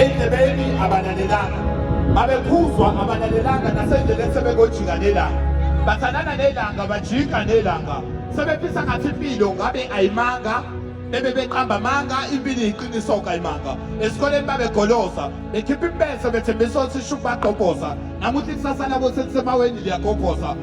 endlebeni abalalelanga babekhuzwa abalalelanga nasendleleni sebekojika nelanga bathandana nelanga bajika nelanga sebephisa ngathi impilo ngabe ayimanga bebe beqamba amanga impilo iyiqiniso kayimanga esikoleni babegolosa bekhipha impese bethembisa ukuthi ishuku bagqobhoza namuhla ikusasa labo selisemaweni liyagobhoza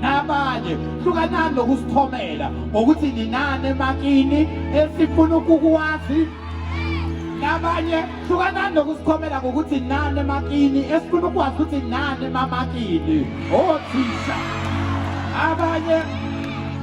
nabanye hlukanani nokusithomela ngokuthi ninani emakini esifuna ukukuwazi nabanye hlukanani nokusikhomela ngokuthi nani emakini esifuna ukwazi ukuthi nani emamakini othisha abanye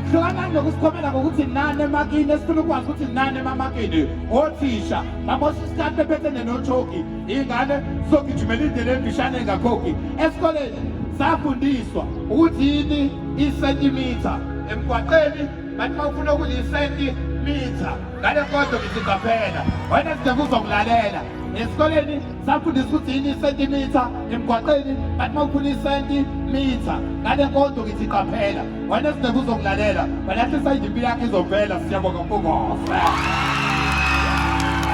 hlukanani nokusikhomela ngokuthi nani emakini esifuna ukwazi ukuthi nani emamakini othisha nabosha isikhathi bephethe nenotshoki Ingane sogijimela indlela emfishane engakhokhi esikoleni safundiswa ukuthi yini isentimitha emgwaqeni kanti uma ufuna ukuthi isentimitha ngale nkonzo ngiziqaphela wena sidinga uzokulalela esikoleni safundisa ukuthi yini isentimitha emgwaqeni kanti uma ufuna isentimitha ngale nkonzo ngithi qaphela wena sidinga uzokulalela walahlisa indimpi yakhe izovela siyabonga mpungofe